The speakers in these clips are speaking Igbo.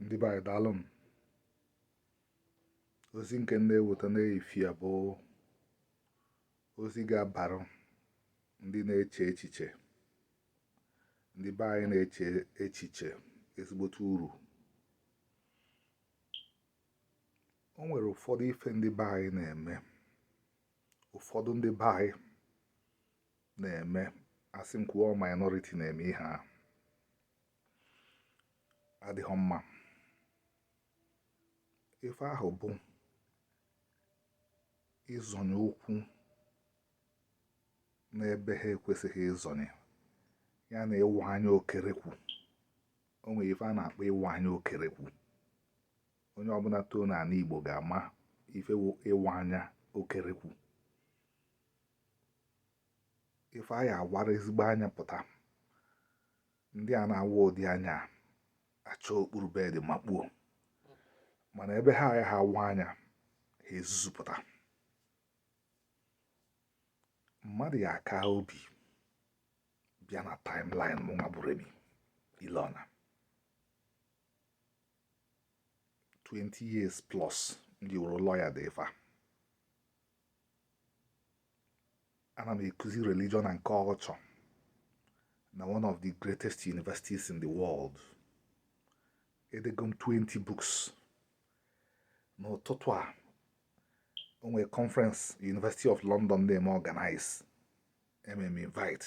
ndị be anyị daalụ nụ ozi nke m na-eweta n'efifie a bụ ozi ga-abara ndị na-eche echiche ndị be anyị na-eche echiche ezigbote uru o nwere ụfọdụ ife ndị be anyị na-eme ụfọdụ ndị be anyị na-eme a sị m kwuo minority na-eme ihe adịghị mma ife ahụ bụ ịzọnye ụkwụ n'ebe ha ekwesịghị ịzọnye ya na ịwa anya okerekwu o nwere ife a na-akpọ ịwa anya okerekwu onye ọbụna too n'anị Igbo ga-ama ife ịwa anya okerekwu ife a ya-awara ezigbo anya pụta ndị a na-awa ụdị anya a achọọ okpuru bed makpuo mana ebe ha ya ha awa anya ha ezuzupụta mmadụ ya-aka obi bịa na timeline mụ nwa bụ Remy Ilona 20 years plus m ji wụrụ lawyer dee ife a ana m ekuzi religion and culture na one of the greatest universities in the world edego m 20 books n'ụtụtụ a o nwere conference University of London na-eme organize e mee m invite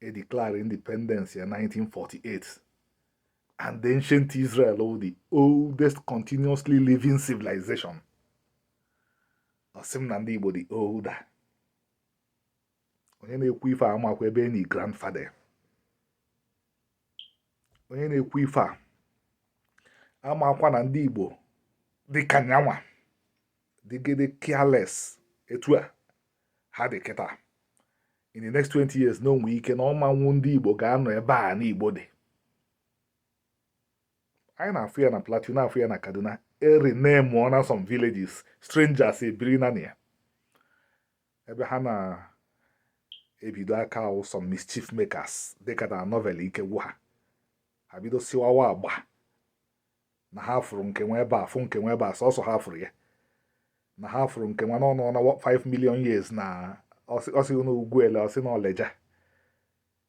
e declare independence ya 1948 and the ancient Israel ọ the oldest continuously living civilization ọ sị m na ndị Igbo dị older onye na-ekwu ife amakwa ebe e nii grandfather onye na-ekwu ife a amakwa na ndị Igbo dị ka nya nwa dịgide careless etu a ha dị kịta in the next 20 years na o nwe ike na ọ ma wụ ndị Igbo ga-anọ ebe anị Igbo dị anyị na-afụ ya na Plateau na-afụ ya na Kaduna e rename-ọna some villages strangers ebiri na ya ebe ha na-ebido aka awụ some mischief makers dịka na novel ike gwụ ha ha bido siwawa agba na ha fụrụ nke nwe ebe a fụ nke nwe ebe a sọsọ ha fụrụ ya na ha fụrụ nke nwa n'ọnụ ọnụ 5 million years na o si na Ugwuele o si na Lejja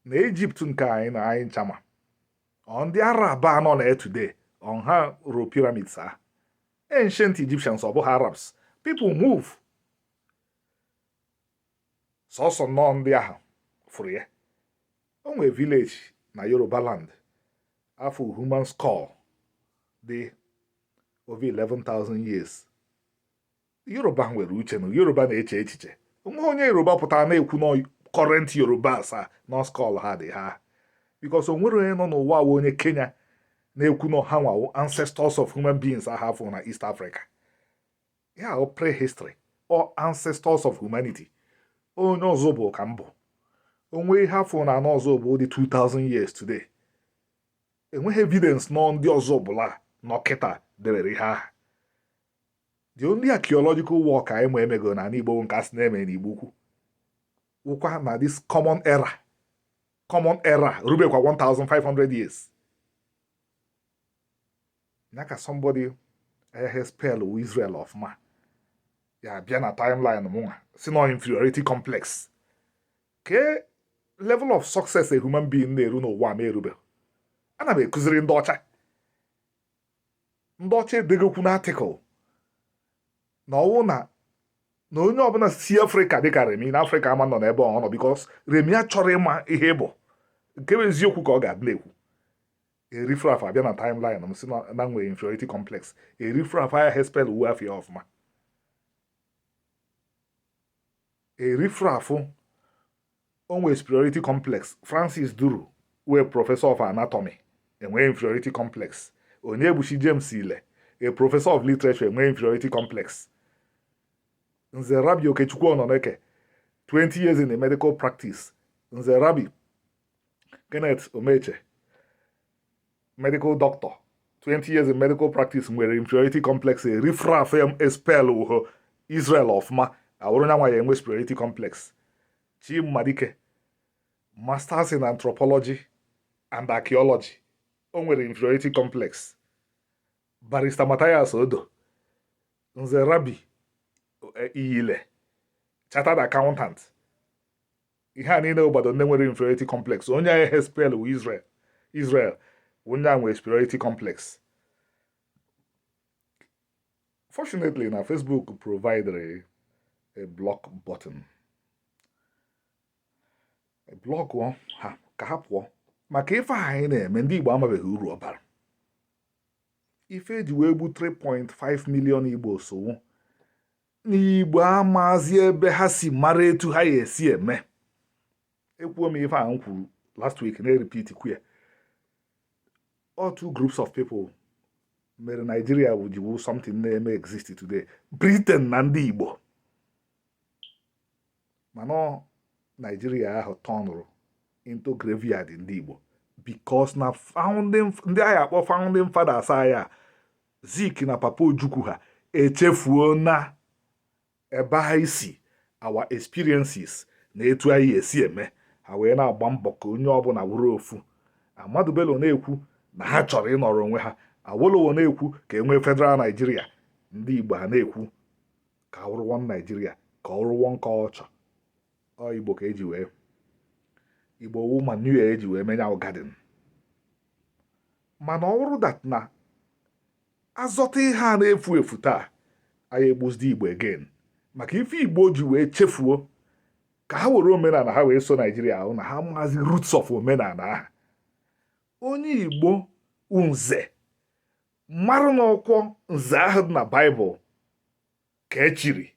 na Egypt nke anyị na anyị ncha ma ọ ndị Arab nọ na ya today ọ ha rụ pyramids a ancient Egyptians ọ bụghị Arabs people move sọsọ na ọ ndị ahụ fụrụ ya o nwere village na yoruba land a fụ human skull dị over 11,000 years yoruba nwere uche na yoruba na-eche echiche o nwee onye yoruba pụtara na-ekwu na current yorubas na skull ha dị ha because o nwere onye nọ n'ụwa wụ onye kenya na-ekwu na ha nwa wụ ancestors of human beings ahụ a fụ na east africa ya wụ prehistory or ancestors of humanity onye Ozubulu ka m bụ o nwee ihe a fụ n'ana Ozubulu dị 2000 years today enweghị evidence na ọ ndị Ozubulu nọ kịta debere ihe ahụ the only archaeological work anyị ma e mego n'ani Igbo nke a sị na e me n'Igbo ukwu wụkwa na this common era common era erubekwa 1500 years na ka somebody ayahị spell wu Israel ọfụma abịa na timeline mụnwa sị na ọ inferiority complex ke level of success a human being na-eru n'ụwa mụ erube ana m akụziri ndị ọcha ndị ọcha edegokwu na article na ọ wụ na na onye ọbụla si afrịka dịka remi na afrịka ama anọ n'ebe ọ nọ because remi achọrọ ịma ihe bụ nke bụ eziokwu ka ọ ga-adị na-ekwu a riffraff abịa na timeline m sị na m nwere inferiority complex a riffraff agahị espell wu afa ya ọfụma a riffraff o nwere superiority complex francis duru wụ a professor of anatomy enwee inferiority complex onyebuchi james ile a professor of literature enwee inferiority complex nze rabbi okechukwu ọnọneke 20 years in a medical practice nze rabbi Kenneth Omeche medical doctor 20 years in medical practice nwere inferiority complex a riffraff agahị espell wu Israel ọfụma awụrụ nya nwa ya enwe superiority complex Chima Dike masters in anthropology and archaeology o nwere inferiority complex barrister Matthias Odo nze Rabbi Iyile chartered accountant ihe a niile obodo ndị nwere inferiority complex onye agahị espell wu Israel wụ onye ahụ nwere superiority complex fortunately na Facebook provided a block button block ha ka ha pụọ maka ife anyị na-eme ndị Igbo amabeghị uru ọ bara ife e ji wee gbu 3.5 million Igbo so wụ n'igbo amazi ebe ha si mara etu ha ya esi eme ekwuo m ife a m kwuru last week na-eripit kwa ya ọ two groups of people mere Nigeria ji wụ something na-eme exist today Britain na ndị Igbo mana Nigeria ahụ tọnụrụ into graveyard ndị Igbo because na founding ndị anyị akpọ founding fathers anyị a Zik na Papa Ojukwu ha echefuo na ebe ha si our experiences na etu anyị esi eme ha wee na-agba mbọ ka onye ọbụla wụrụ ofu Ahmadu Bello na-ekwu na ha chọrọ ịnọrọ onwe ha Awolowo na-ekwu ka enwee federal Naijiria ndị Igbo ha na-ekwu ka a wụrụ one Naijiria ka a wụrụ one culture ọ Igbo ka eji wee Igbo wu manure eji wee menye garden mana ọ bụrụ that na azọta ihe a na-efu efu taa a ya egbuzidi igbo again maka ife igbo ji wee chefuo ka ha were omenala ha wee so naijiria ahụ na ha amazi roots of omenala ahụ onye igbo nze mara na ọkwa nze ahụ dị na baịbụl ka echiri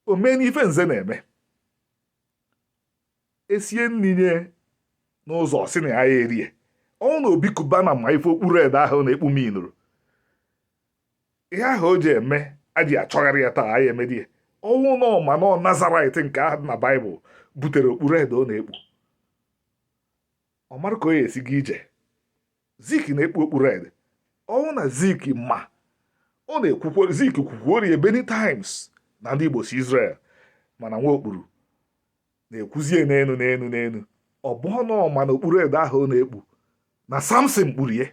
o mee n'ife nze na-eme esie nni nye n'ụzọ ọ sị na ya erie ọ wụ na obi cubana ma ife okpu red ahụ ọ na-ekpu minụrụ ihe ahụ o ji eme a ji achọgharị ya taa ya emedi ya ọ wụ na ọ ma na nazarit nke ahụ dị na baịbụl butere okpu red ọ na-ekpu ọ mara ka o ya esi ga ije zik na-ekpu okpu red ọ wụ na zik ma ọ na-ekwukwo zik kwukwuori ya many times na ndị igbo si Israel mana nwa okpuru na-ekwuzie n'enu n'enu n'enu ọ bụ na ọ ma na okpu red ahụ ọ na-ekpu na samson kpuru ya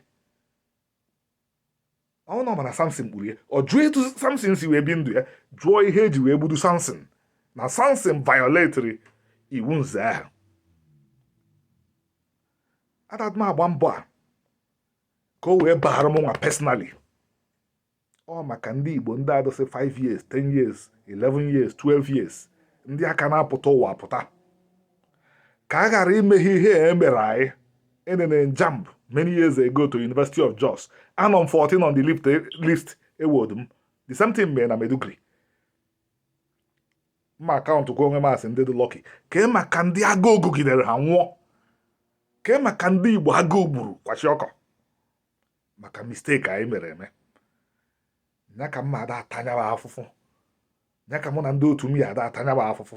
ọ wụ na ọ ma na samson kpuru ya ọ jụọ etu samson si wee bi ndụ ya jụọ ihe eji wee gbudu samson na samson violetri iwu nze ahụ adadị m agba mbọ a ka o wee baara m nwa personally ọ maka ndị igbo ndị a dụsị 5 years 10 years 11 years 12 years ndị a ka na-apụta ụwa apụta ka a ghara ime ha ihe e mere anyị enene m JAMB many years ago to University of Jos anọ m 14 on the list ewedi m the same thing mere na Meduguri m akaụntụkwa onwe m as ndị dị lucky kee maka ndị agụụ gụgidere ha nwụọ kee maka ndị Igbo agụụ gburu kwashiorkor maka mistake anyị mere eme ya ka m nwa ada ata nya bụ afụfụ ya ka mụ na ndị otu m ya ada ata nya bụ afụfụ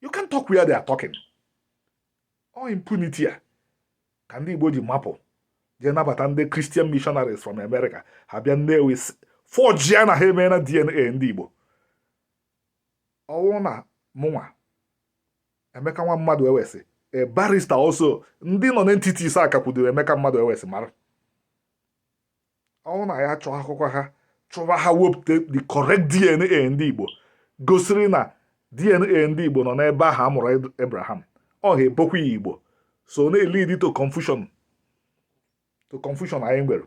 you can talk where they are talking ọ impunity a ka ndị Igbo ji mapụ jee nabata ndị Christian missionaries from America ha bịa Nnewi forge ya na ha emeena DNA ndị Igbo ọ wụ na mụnwa Emeka nwa Maduewesi a barrister also ndị nonentities a kakwudoro Emeka Maduewesi mara ọ wụ na ya chọọ akwụkwọ ha chụwa ha wepụta the correct DNA ndị Igbo gosiri na DNA ndị Igbo nọ n'ebe ahụ a mụrụ Abraham ọha ebokwa ya Igbo so na-elead to confusion anyị nwere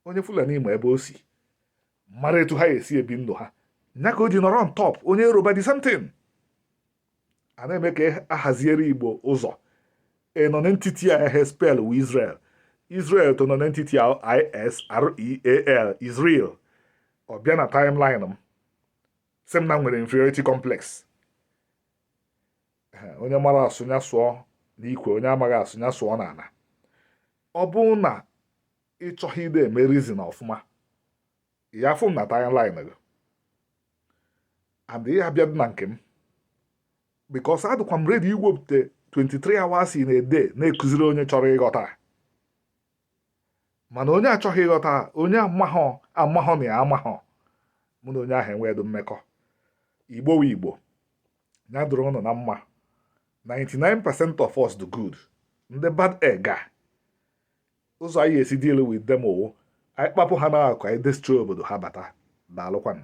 onye Fulani ma ebe o si mara etu ha esi ebi ndụ ha nya ka o ji nọrọ on top onye Yoruba the same thing a na-eme ka a haziere Igbo ụzọ nonentity a ehe spell wụ Israel Israel to nonentity a isreal Israel ọ bịa na timeline m sị m na m nwere inferiority complex onye mara asụ ya sụọ n'ikwe onye amaghị asụ ya sụọ n'ala ọ bụrụ na ị chọghị ịdị eme reason ọfụma ya afụ m na timeline gị and ya abịa na nke m because adịkwa m ready iwepụta 23 hours in a day na-akụziri onye chọrọ ịghọta mana onye achọghị ịghọta onye amahọ na ya amahọ mụ na onye ahụ enwedo mmekọ Igbo wụ Igbo ya dụrụ ụnụ na mma 99% of us dị good ndị bad egg a ụzọ anyị esi deal with them wụ anyị kpapụ ha n'akụ anyị destroy obodo ha bata daalụkwanụ